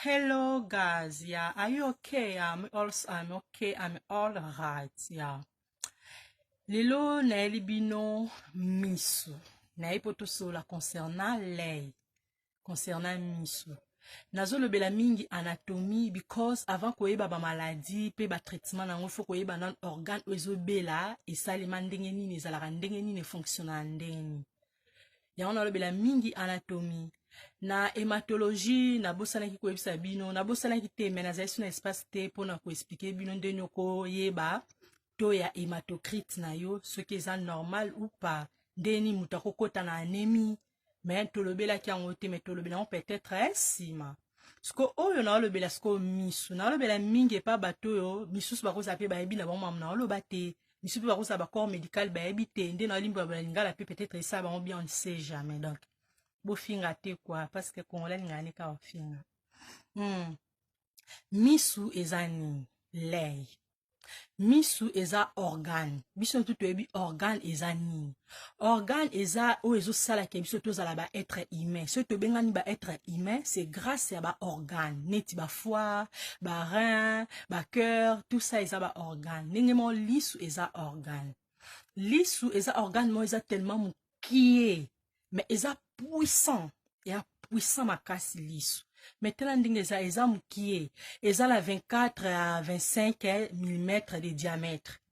Hello guys, yeah. Are you okay? I'm also I'm okay. I'm all right, yeah. Lelo nayeli bino misu. Naye po tosola concernant lei. Concernant misu. nazolobela mingi anatomie because avant koyeba bamaladi mpe batraitement na yango fo koyeba nano organe oyo ezobela esalema ndenge nini ezalaka ndenge nini efonctionnaka ndenge nini yango nalobela mingi anatomie na hematologie nabosanaki koyebisa bino nabosanaki te me nazali so na espace te mpo na koexplike bino ndeni okoyeba to ya hematocrite na yo soki eza normal ou pas ndeni moto akokɔta na anemi me tolobelaki yango te me tolobela yango peut-être eh, nsima eh, siko oyo naolobela sikoyo misu naolobela mingi epa bato oyo misusu bakozala mpe bayebi na bango mamu naoloba te biso mpe bakosala bacorps médical bayebi te nde na olimbo ya balingala mpe peut-être esala bango bien on ne sait jamais donc bofinga te kua parce que congolais alingaka nde kaka ofinga hmm. misu eza nini lei misu eza organe biso ntu toyebi organe eza nini organe eza oyo ezosala ke biso tozala ba être humain soki tobengani ba être humain c'est grâce ya ba organe neti ba foie ba rein ba cœur tout ça eza ba organe ndenge moko lisu eza organe lisu eza organe moko eza tellement mokie mais eza puissant ya puissant makasi lisu me tala ndenge eza eza mokie eza na 24 à 25 mm de diamètre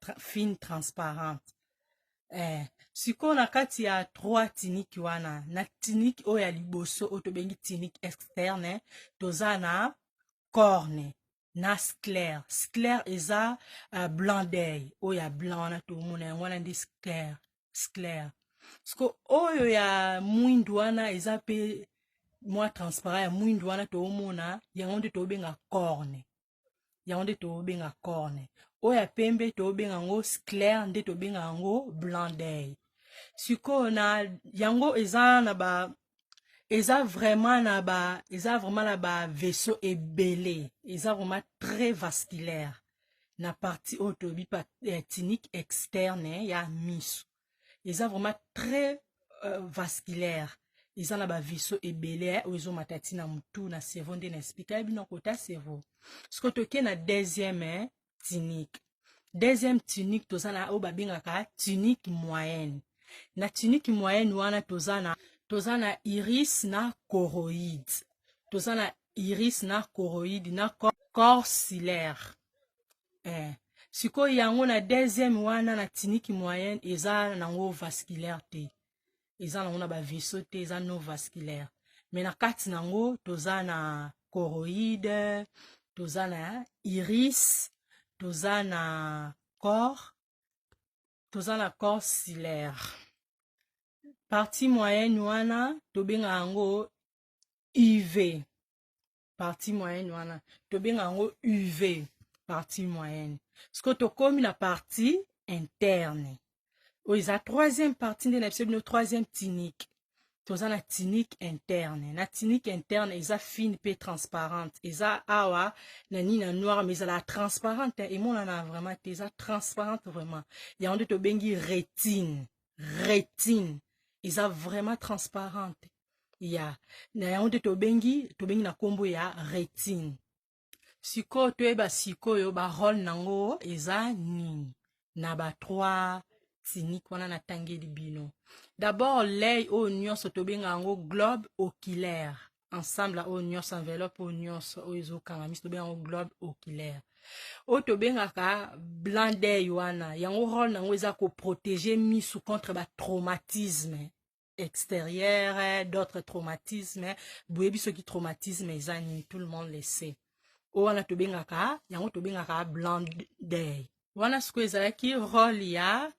tra, fine transparente eh, sikoyo na kati ya trois tiniki wana na tiniki oyo ya liboso oyo tobengi tiniki externe toza na corne na sclere sclere eza uh, blanc d'oeil oyo ya blanc wana tomona yango wana nde sclere sclere siko oyo ya mwindu wana eza mpe mwa transparent ya mwindu wana toomona yango nde toobenga corne yango nde tobenga corne oyo ya pembe tobenga yango sclaire nde tobenga yango blanc d'oeil sikoyo na yango eza na ba eza vraiment na ba eza vraiment na ba vaisseau ebele eza vraiment très vasculaire na partie oyo toyebi pa eh, tinique externe ya miso eza vraiment très euh, vasculaire eza na baviso ebele eh, oyo ezomata ti na motu na cerveau nde na explika bino kota cerveau soki toke na deuxième eh, tunique deuxième tunique toza na oyo babengaka tunique moyenne na tunique moyenne wana toza na toza na iris na coroïde toza na iris na coroïde na corps silaire eh. sikoyo yango na deuxième wana na tiniki moyenne eza nango vasculaire te eza nango na baveso te eza non vasculaire me na kati na yango toza na coroïde toza na iris toza na corps toza na corps silaire partie moyenne wana tobenga yango uv partie moyenne wana tobenga yango uv partie moyenne sikoyo tokomi na partie interne oyo eza troisième partie nde na biso bino troisième tinique toza na tinique interne na tinique interne eza fine mpe transparente eza awa na nini na noir mais ezala transparente emonana vraiment te eza transparente vraiment yango nde tobengi rétine rétine eza vraiment transparente ya na yango nde tobengi tobengi na nkombo ya retine sikoyo toyeba sikoyo barole nango eza nini na ba trois tiniki wana natangeli bino dabord lei oyo nyonso tobenga yango globe oculaire ensemble oyo nyonso enveloppe oyo nyonso oyo ezokanga miso tobenga yango globe oculaire oyo tobengaka blanc dei wana yango role na yango eza koprotege miso contre batraumatisme extérieur eh, d'autres traumatisme eh. boyebi soki traumatisme eza nini tout le monde le sait oyo wana tobengaka yango tobengaka blandey wana sikoyo ezalaki role ya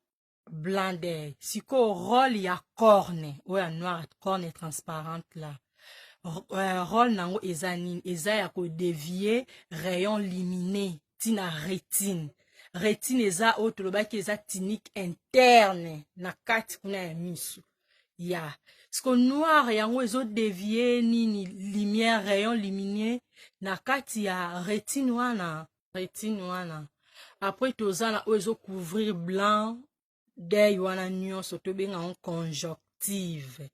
blandey sikoyo role ya corne oyo ya noire corne transparente la euh, role na yango eza nini eza ya kodevie rayon limine ntina retine retine eza oyo tolobaki eza tinike interne na kati kuna ya miso ya siko noir yango ezodevie nini lumière rayon lumineux na kati ya retine wana retine wana apres toza na oyo ezocouvrir blanc dei wana nyonso tobenga yango conjonctive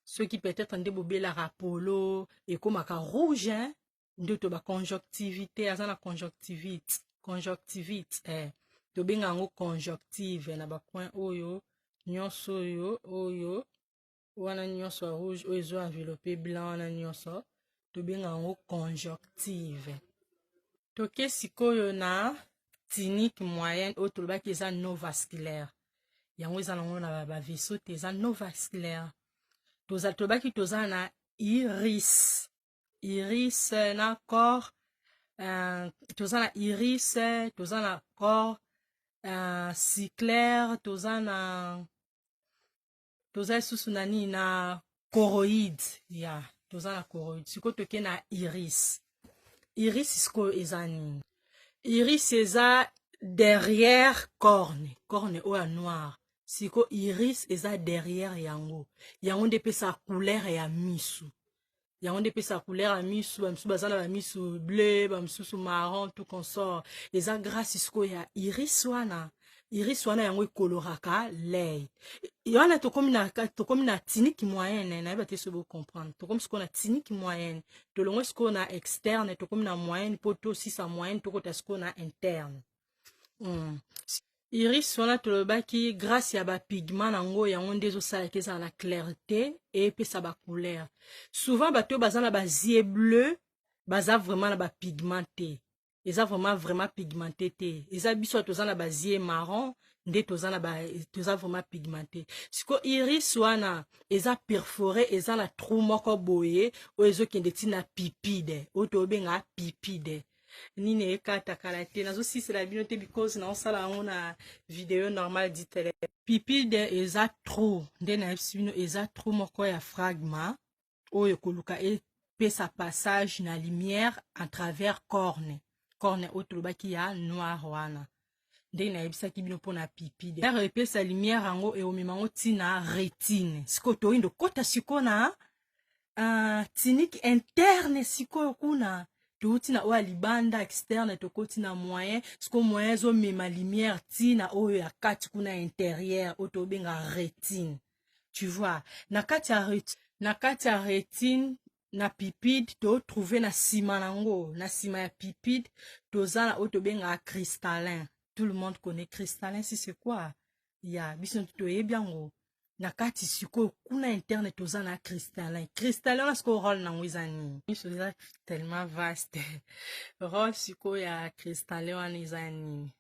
soki peut-être nde bobelaka polo ekomaka rouge hein? ndoto ba conjonctivite aza na conjonctivite conjonctivite eh. tobenga yango conjonctive na bacoin oyo nyonso oyo oyo wana nyonso ya rouge oyo ezo enveloppe blanc wana nyonso tobenga yango conjonctive toke sikoyo na tinique moyenne oyo tolobaki eza no vasculaire yango eza nango na bavaisseau te eza no vasculaire tolobaki toza na iris iris na corps uh, toza na iris toza na corps uh, cyclaire toza na toza lisusu na nini na coroïde ya yeah, toza na coroïde sikoyo toke na iris iris sikoyo eza nini iris eza derrière corne corne oyo ya noire siko iris eza derrière yango yango nde epesa couleur ya misu yango nde epesaka couleur ya misu bamisusu baza na bamisu bleu bamisusu marron tout consort eza grâce sikoyo ya iris wana iris wana yango ekoloraka lei wana tokomi na, tokomi na tiniki moyenne nayeba te soki bocomprendre tokomi sikoyo na tiniki moyenne tolongwe sikoyo na externe tokomi na moyenne mpo tosisa moyenne tokota sikoyo na interne mm. iris wana tolobaki grace ya bapigment yango yango nde ezosalaka ezala na clarté epesa bacouleur souvent bato oyo baza na bazie bleu baza vraiment na bapigment te eza vraiment vraiment pigmenté te eza biso toza na bazie marron nde toza na toza vraiment pigmenté siko iris wana eza perforé eza na trou moko boye oyo ezokende ntina pipide oyo tobenga pipide nini ekata kala te nazosisela bino te because naosala yango na video normal du telefone pipide eza trou nde nayebisi bino eza trou moko ya fragma oyo koluka epesa passage na lumière à travers corne corne oyo tolobaki ya noir wana ndenge nayebisaki bino mpo na pipi dare epesa lumière yango eomema yango ntina retine sikoyo toyindo kota sikoyo na uh, tiniki interne sikoyo kuna touti na oyo ya libanda externe tokoti na moyen sikoyo moyen ezomema lumière ti na oyo ya kati kuna interieur oyo tobenga retine tu vois na kati ya retine na kati ya retine na pipide to trouve na sima nango na sima ya pipide toza na oyo tobengaka cristallin tout le monde connaît cristallin si c'est quoi ya biso toyebi yango na kati sikoyo kuna interne toza na cristallin cristallin wana sikoyo role nango eza nini biso eza tellement vaste role sikoyo ya cristallin wana eza nini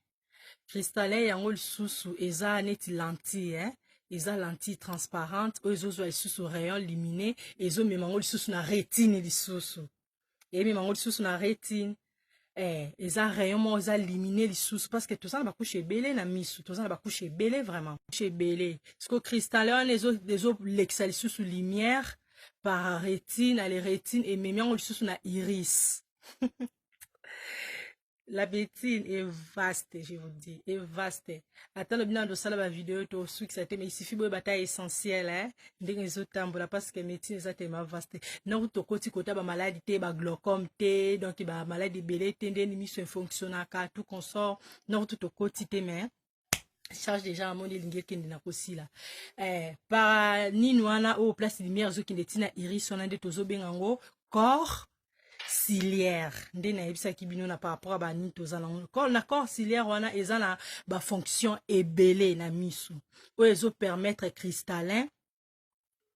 cristallin yango lisusu eza neti lentille hein? eza lentille transparente oyo ezozwa lisusu rayon lumine ezomema yango lisusu na retine lisusu emema yango lisusu na retine eh, eza rayon moko eza limine lisusu parce que toza na bakushe ebele na misu toza na bakushe ebele vraiment kushe ebele siko cristal wana ezolekisa lisusu lumière par retine ale retine ememi yango lisusu na iris la betine est vaste je vous dis est vaste ata lobi nando osala bavideo to osukisa te mais isifi boyeba ata essentiel eh? ndenge ezotambola parce que médecine eza telema vaste noko tokoti kota bamaladi te baglocome te donc bamaladi ebele te ndeni miso efonctionnaka tout consort noko tu tokoti te mais charge déjà amoni elingi ekende na kosila eh, para nini wana oyo place lumière ezokende ntina iris wana nde tozobenga yango corps ciliaire nde nayebisaki bino na par rapport ya banini toza nango na corps ciliaire wana eza na bafonction ebele na miso oyo ezopermettre cristallin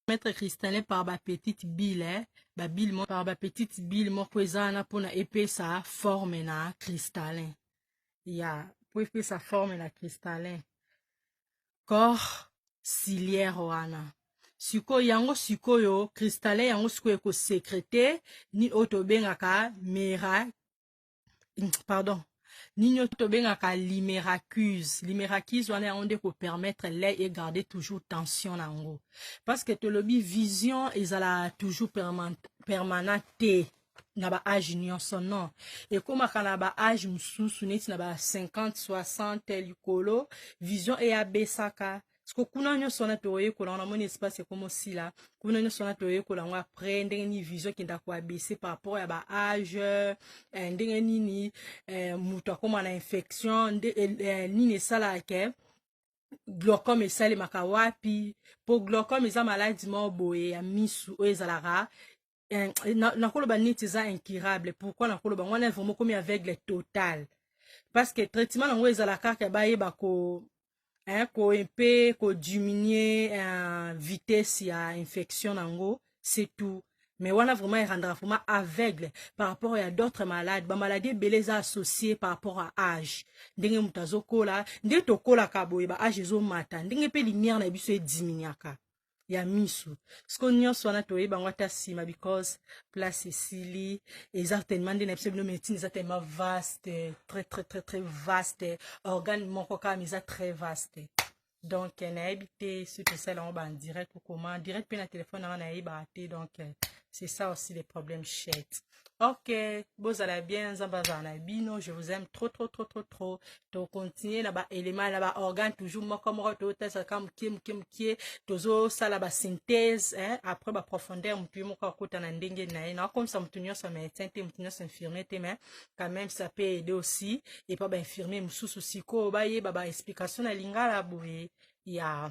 Maître Cristallin par ba petite bille eh? ba bille moko par ba petite bille moko eza wana pona epesa forme na cristallin ya yeah. po epesa forme na cristallin corps ciliaire wana sikoyo yango sikoyo cristallin yango sikoyo ekosekrete ni oyo tobengaka mera pardon nini oyo tobengaka limeracuse limeracuse wana yango nde kopermettre lait egarde toujours tension na yango parce que tolobi vision ezala toujours permanent te na baage nyonso non ekomaka na baage mosusu neti na ba 50 60 likolo vision eyabesaka siko kuna nyonso wana toyekola wana moni espace ekoma osila kuna nyonso wana toyekola yango après ndenge nini vision ekenda koabese par rapport ya ba age eh, ndenge nini eh, moto akoma na infection nde, eh, eh nini esalaka ke glaucome esalemaka wapi mpo glaucome eza maladi moko boye ya misu oyo ezalaka nakoloba na niti eza incurable pourquoi nakoloba yango wana vraiment komi aveugle total parce que traitement yango ezala kaka bayeba ko hein, ko mpe kodiminuer hein, vitesse ya infection na yango c'est tout mais wana vraiment erandaka vraiment aveugle par rapport ya d'autres malades bamaladi ebele eza associe par rapport ya age ndenge moto azokola nde tokolaka boye ba age ezomata ndenge mpe lumière na biso ediminuaka ya misu siko nyonso wana toyeba yango ata nsima because place esili eza tellement nde na biso bino médecine eza tellement vaste très très très très vaste organe moko kama eza très vaste donc eh, nayebi te soki tosala yango bandirect ou comment direct mpe na telefone yango nayebaka te donc eh, c'est ça aussi le problème chete Ok, bozala bien, nzamba zana bino, je vous aime trop trop trop trop trop. To continuer na ba éléments na ba organes toujours moko moko to tesa ka mukie mukie mukie, tozo sala ba synthèse hein, après ba profondeur mutu moko akota na ndenge na ye. Na comme ça mutu nyonso médecin te, mutu nyonso infirmier te mais quand même ça peut aider aussi et pas ba infirmier mususu siko ba ye ba ba explication na lingala boye. Ya. Yeah.